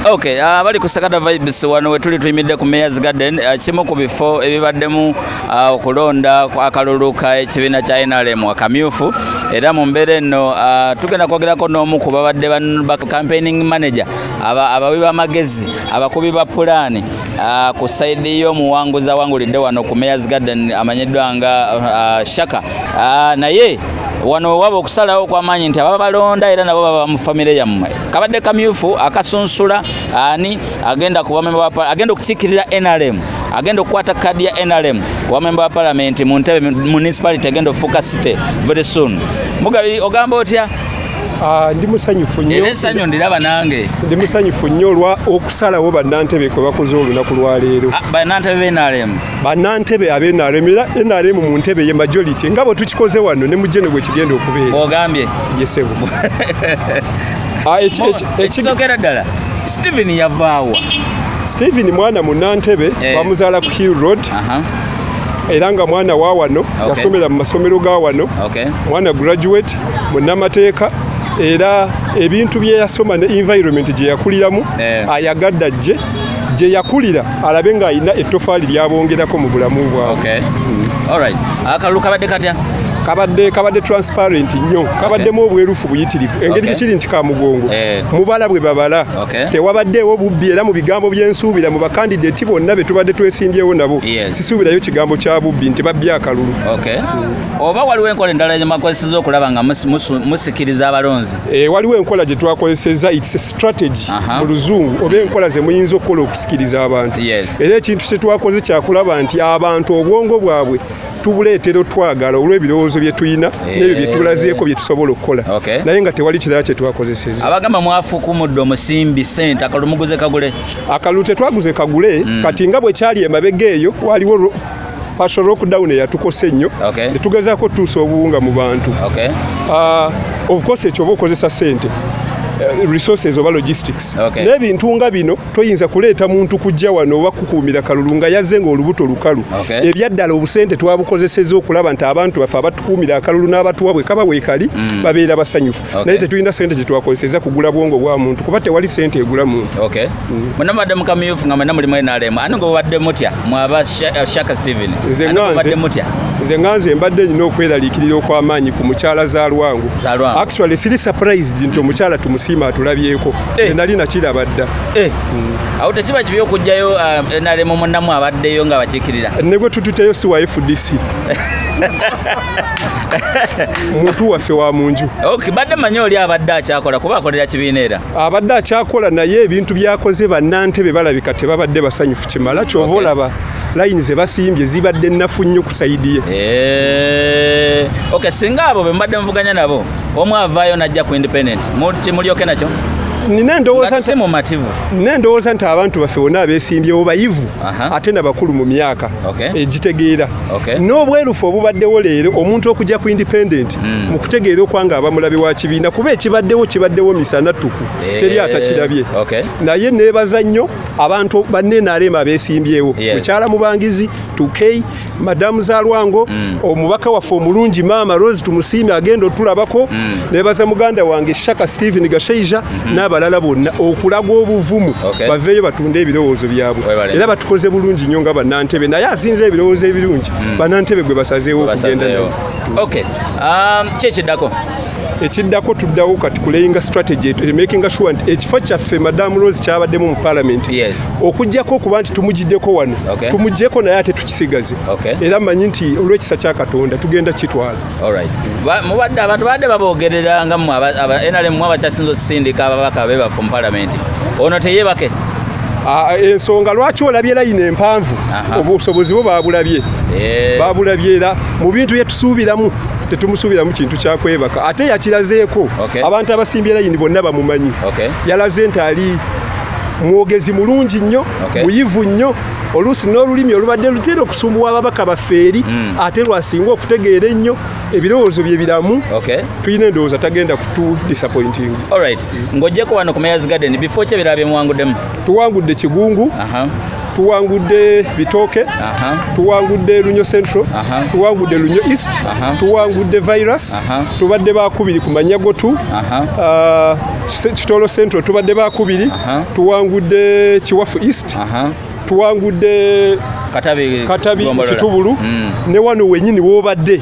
Okay, uh, bali ku Sagada Vibes wano wetuli tuyimidde ku Mayor's Garden uh, kimu ku bifo ebibaddemu uh, okulonda uh, akalulu ka ekibiina kya NRM akamyufu era mu mbeera eno uh, tugenda kwogerako n'omu ku babadde ba campaigning manager abawi b'amagezi abakubi ba pulaani ah, ku saidi y'omuwanguzi awangulidde wano ku mayors garden amanyiddwa nga ah, shaka ah, naye wano waba okusalawo okwamaanyi nti ababa balonda era nabo baba mu famire yammwe kabadde kamyufu akasunsula ani agenda agenda okukiikirira nrm agenda okukwata kadi ya nrm wamemba wa palamenti mu ntebe municipality agenda okufuuka city very soon mugabi ogamba otya Ah, ndi musanyufu nyo era esanyo ndiraba nange ndi musanyufu nyo olwa okusalawo bannantebe kwe bakoze olunaku lwaleero ah, bannantebe benaremu bannantebe abenaremu era enaremu mu ntebe ye majority nga bwe tukikoze wano ne mujeno gwe kigenda okubeera ogambye yesebo ah, ekisokera ddala stephen yavaawa stephen mwana munnantebe eh. bamuzaala ku hill road era nga mwana wa wano okay. yasomera mu masomero ga wano okay. mwana graduate munamateeka era ebintu byeyasoma ne environment gyeyakuliramu yeah. ayagadde ajje gye yakulira alabe ng'alina ettofaali lyabongerako mu bulamu bwabwe mm. akalulu kabadde katya kabadde kabadde transparent nnyo kabaddemu obwerufu buyitirivu engeri kyekiri nti kamugongo eh. mubala bwe babala Okay. Tewabaddeewo bubbi era mu bigambo byensuubira mu bakandideti bonna be tubadde twesimbyewo nabo yes. sisuubirayo kigambo kya bubbi nti babbye akalulu okay. mm. oba waliwo enkola endala gyemwakozeseza okulaba nga musikiriza abalonzi e, waliwo enkola gye twakozeseza its strategy uh -huh. mu luzungu oba enkola ze muyinza okukola okusikiriza abantu yes. era ekintu kye twakoze kyakulaba nti abantu obwongo bwabwe tubuleetera otwagala olw'ebirowoozo bye tulina eh. n'ebyo bye tulazeeko bye tusobola okukola naye nga tewali kirala kye twakozeseza abagamba mwafukumudde omusimbi sente akalulu muguze kagule akalulu tetwaguze kagule hmm. kati nga bwe kyali emabega eyo waliwo pasho lockdown eyatukose ennyo netugezaako tutuusa obuwunga mu bantu ah, ofcourse ekyoba okozesa sente eh, resources oba logistics n'ebintu nga bino toyinza kuleeta muntu kujja wano oba kukuumira kalulu nga yazze ng'olubuto lukalu ebyaddala obusente twabukozeseza okulaba nti abantu baffe abatukuumira akalulu n'abatuwa bwe kaba weekali mm. babeera basanyufu naye tetulina sente gye twakozeseza kugula bwongo bwa muntu kuba tewali sente egula muntu mm. muna mubadde mukamyufu nga mwena mulimu nrm ani ngobadde mutya mwaba eh, shaka steven nze nganze mbadde nyina okweraliikirira okw'amaanyi ku mukyala zalwangu actually siri surprise nti omukyala tumusiima atulabyeko Eh. nali nakiraba dda eh. mm. awo tekiba kibi okugjayo ah, nrm munamu abaddeyo nga bakikirira ne gwe tututeyo si wa fdc muntu waffe wa munju badde manyi oli abadde akyakola kuba akolera kibiina era abadde akyakola naye ebintu byakoze bannantebe balabika tebabadde basanyufu kimala kyova olaba layini ze basimbye zibadde nnafu nnyo ku sayidiye eh. singa abo be mbadde muvuganya nabo omu avaayo najja ku independent mulyoke nakyo nina endowooza nti abantu baffe bona abesimbyewo bayivu ate nabakulu mu myaka egitegeera n'obwerufu obubaddewo leero omuntu okujja ku independent hmm. mu kutegeera okwanga abamulabe wa kibiina kuba ekibaddewo kibaddewo misana ttuku eh, teri atakirabye naye neebaza nnyo abantu banenarema abesimbyewo mukyala mubangizi tukei madamu zalwango mm. omubaka waffe omulungi maama rose tumusiime agenda otulabako mm. nebaza muganda wange shaka stephen gashaija mm -hmm. n'abalala bonna okulaga obuvumu okay. baveeyo batunde ebirowoozo byabwe era batukoze bulungi nnyo nga banantebe naye asinza ebirowoozo ebirungi mm. banantebe gwe basazeewo okugenda nayo okay. um, kyekiddako ekiddako tuddawo kati kulayinga strategy makinga sure nti ekifo kyaffe madamu rose kyabaddemu mu parliament okujjako okuba nti tumugiddeko wano tumugyeko naye ate tukisigaze era manyi nti olwekisa kya katonda tugenda kitwala mubadde abantu badde babogerera nga nrm mu abakyasinza osindika ababaka be baffe mu parliament ono teyebake Ah, ensonga lwaki olabye layini empanvu obusobozi bwo babulabye eh. babulabye era mu bintu byetusuubiramu tetumusuubiramu kintu kyakwebaka ate yakirazeeko okay. abantu abasimbye layini bonna bamumanyi okay. yalaze nti ali mwogezi mulungi nnyo okay. muyivu nnyo oluusi n'olulimi olubadde lutera okusumbuwa ababaka bafeeri mm. ate lwasinga okutegeera ennyo ebirowoozo bye biramu okay. tulina endowooza tagenda kutu disappointing right. mm. ng'ojjeko wano ku mayers garden bifo ki ebirala bye muwanguddemu tuwangudde kigungu tuwangudde bitooke tuwangudde lunyo central tuwangudde lunyo east tuwangudde virus tubadde bakubiri ku manyagotu ah, kitolo central tubadde bakubiri tuwangudde kiwafu east tuwangudde katabi kitubulu mm. ne wano wenyini wobadde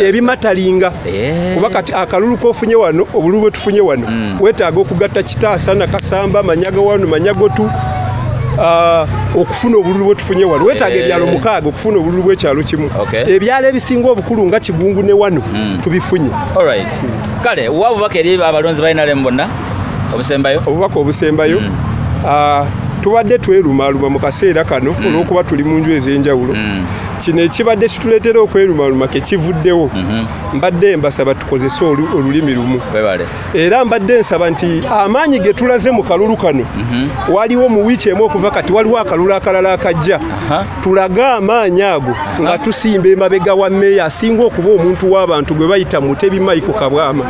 ebimatalinga eh. kuba kati akalulu kofunye wano obululu bwetufunye wano mm. wetaaga okugatta kitaasa nakasamba manyaga wano manyagotu uh, okufuna obululu bwetufunye wano wetaaga eh. ebyalo mukaaga okufuna obululu bwekyalo kimu ebyalo ebisinga obukulu nga kigungu ne wano mm. tubifunye kale wa bubaka eri abalonzi balinalemu bonna obusembayo obubaka obusembayo mm. uh, tubadde twerumaluma mu kaseera kano olwokuba tuli mu nju ez'enjawulo kino ekibadde kituleetera okwerumaluma kekivuddewo mhm. mbadde mbasaba tukozese olulimi lumu era mbadde nsaba nti amaanyi ge tulaze mu kalulu kano mhm. waliwo mu wiiki emu okuva kati waliwo akalulu akalala akajja tulage amaanyi ago nga tusimba emabega wa meeya asinga okuba omuntu w'abantu gwe bayita mutebi maiko kabwama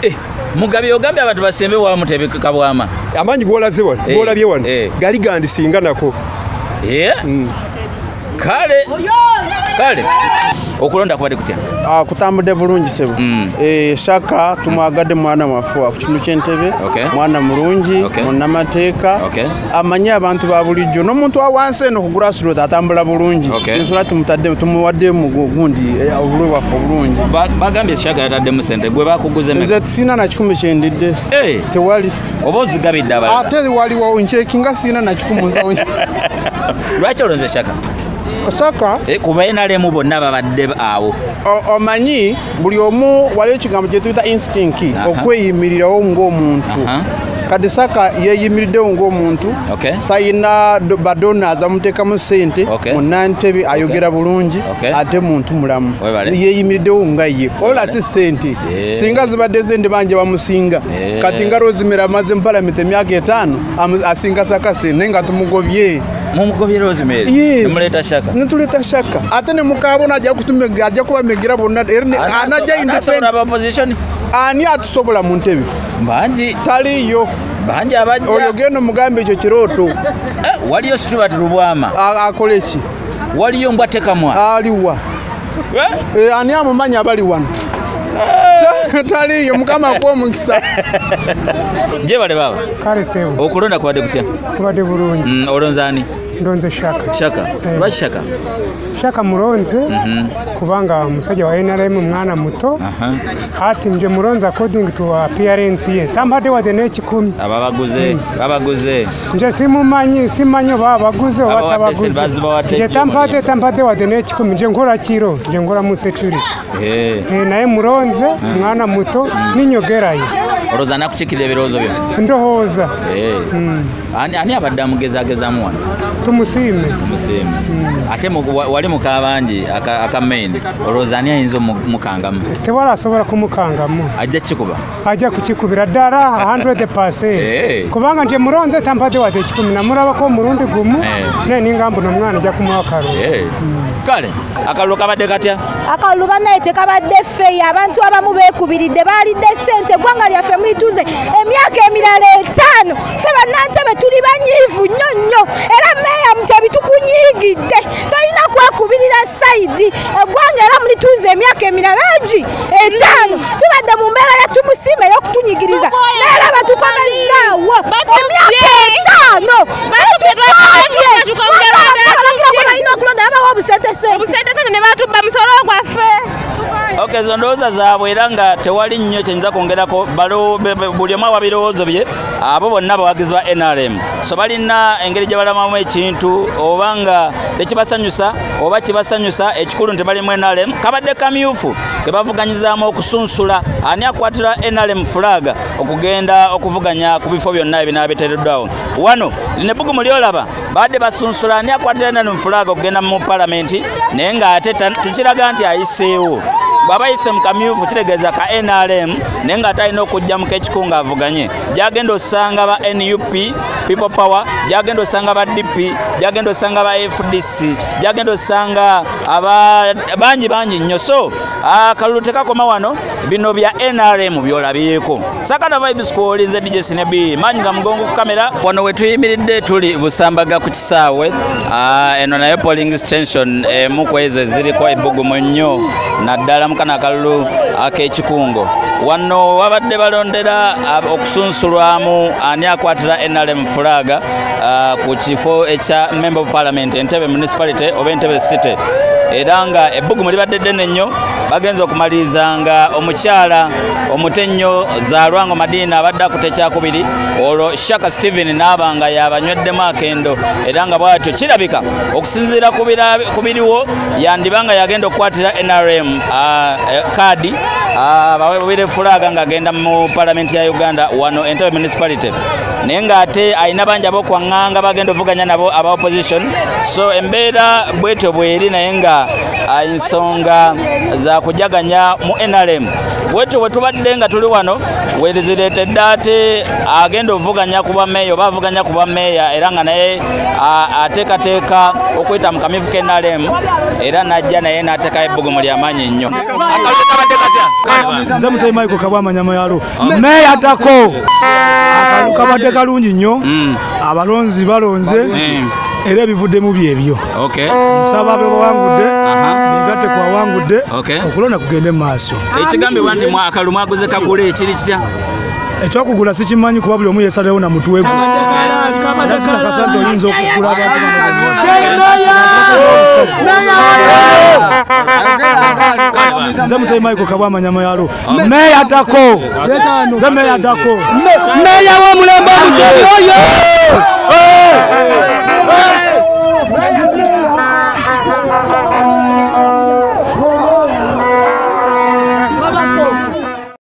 eh, mugabi ogambye abantu basembe wa mutebi kabwama amaanyi gwolaze wano eh, gwolabye wano eh. gali gandisinga nako mm. kale kale okulonda kubadde kutya ah, kutambudde bulungi sebo mm. eh, shaka tumwagadde mwana waffe ku kintu kyentebe mwana mulungi munamateeka amanye abantu ba bulijjo n'omuntu wawansi eno kugula sirot atambula bulungi ensula tumutadde tumuwadde mugundi eh, obulwe bwaffe obulungi bagambye shaka yataddemu sente gwe bakuguze nze sina na kikumi kyendidde eh. tewali oba ozigabidde abalala ate waliwo nkyekinga sirina nakikumuza lwaki olonze shaka osaka eh, kuba enalemu bonna babadde awo omanyi buli omu waliwo ekigambo kyetuyita instinct okweyimirirawo ngaomuntu kati saka yeyimiriddewo ngaomuntu talina badona azamuteekamu sente munantebe ayogera bulungi ate muntu mulamu yeyimiriddewo nga ye olasi sente eh. singa zibadde zende banja bamusinga Eh. kati nga rosemary amaze mupalamenti emyaka etaano amu- asinga sakasi naye nga tumugobye mumugobye rosemary Yes. nemuleeta shaka nituleta shaka ate nemukabona ajja kutume- ajja kubamegera bonna era ne- Anaso- anajja anasobola independent aba opposition ani atusobola mu ntebe bangi taliyo bangi abajja oyo genda omugambe ekyo kirooto Eh, waliyo stuart lubwama A- akole ki waliyo mbwa tekamwa aliwa Eh? Eh, ani amumanya abali wano eh. taliyo mukama akuwa omukisa jebale baba kale sebo okulonda kubadde kutya kubadde bulungi mm, olonza ani ndonze shaka shaka eh. lwaki shaka shaka mulonze mm -hmm. kubanga musajja wa nrm mwana muto uh -huh. ati nje mulonze according to appearance ye tambadde wadde n'ekikumi ababaguze mm. babaguze nze simumanyi simanyi oba abaguze oba tabaguze nze tampate tampate wadde n'ekikumi nze nkola kiro nze nkola mu security eh. Eh, naye mulonze hmm. mwana muto hmm. ninyogerayo olowooza nakukiikirira ebirowoozo byo ndowooza eh. hmm. ani abadde amugezagezamu wano tumusiime tumusiime ate wali mukabangi aka main olowooza ani ayinza omukangamu tewala asobola kumukangamu ajja kikuba ajja kukikubira ddala 100 eh. kubanga nti mulonze tampadde wadde ekikumi namulabako omulundi gumu eh. naye ninga mbuno omwana ajja kumuwa kalulu eh. hmm. kale akalulu kabadde katya akalulu banaye tekabadde feyi abantu abamu bekubiridde baalidde sente eggwanga lyaffe mulituze emyaka emirala etaano fe bannantebe tuli banyiivu nnyo nnyo era meeya mutebi tukunyiigidde tolina kwekubirira sayidi eggwanga era mulituze emyaka emirala egi etaano tubadde mu mbeera ya tumusiima ey'okutunyigiriza naera batukomezzaawo emyaka etaano balina okulonda babawa obusentesente ne batubba musolo gwaffe ok ezo ndowooza zaabwe era nga tewali nnyo kyenyinza kwongerako buli omu ababirowoozo bye abo bonna abawagizi ba nrm so balina engeri gye balamamu ekintu oba nga tekibasanyusa oba kibasanyusa ekikulu nti bali mu nrm kabadde kamyufu kebavuganyizaamu okusunsula ani akwatira nrm fulaga okugenda okuvuganya ku bifo byonna ebinaabiteereddwawo wano lino ebbugumu lyolaba baadde basunsula ani akwatira nrm fulaga okugenda mu palamenti naye ng'ate tekiraga nti ayiseewo bwaba yise mukamyufu kitegeeza ka nrm naye nga atalina okujja mu kekiku nga avuganye gyagenda osanga ba nup people power gyagenda osanga ba dp gyagenda osanga ba fdc poliisi gyagenda osanga bangi bangi nnyo so akalulu tekakoma wano bino bya nrm byolabyeko sakana vibes kuolinze dj sinebi manyi nga mugongo ku kamera wano wetuyimiridde tuli busambaga ku kisaawe eno nayo polling station emu ku ezo eziriko ebbugumu nnyo naddala mukana akalulu ak'ekikungo wano wabadde balondera okusunsulwamu ani akwatira nrm fulaaga uh, ku kifo ekya member of parliament entebe municipality oba entebe city era nga ebbugumu libadde ddene nnyo bagenza okumaliriza nga omukyala omuto ennyo zalwango madiina abadde akuta ekyakubiri olwo shaka stephen naaba nga yabanyweddemu akendo era nga bwatyo kirabika okusinziira ku biriwo yandiba nga yagenda okukwatira nrm kaadi bawe bubire fulaaga ng'agenda mu palamenti ya uganda wano entebe municipality naye ng'ate alina bangi abokwaŋŋanga bagenda ovuganya nabo aba opposition so embeera bwetyo bweri naye nga ah, ensonga za kujaganya mu nrm bwetyo bwe tubadde nga tuli wano wezireetedde ate agenda ovuganya ku bameeya oba avuganya ku bameeya era nga naye ah, ateekateeka okuyita mu kamivu ke nrm era najja naye n'ateekayo ebbugumu lyamaanyi nnyo nze mutemaiko kabwamanyama yalo meeya addako akantu kabadde kalungi nnyo mm. abalonzi balonze mm. era ebivuddemu byebyo nsaba bebawangudde negatte kwawangudde okulonda kugende mu maaso ekigambibwa nti mwakalu mwaguze kagula ekiri kitya ekyokugula sikimanyi kuba buli omu yesalewo na mutwe gwe nakakasa nti oyinza okugula abantunze mutaimaiko kabwamanyama yalo meeya dako ze meeya dako meeya w'omulembe omutebi oyo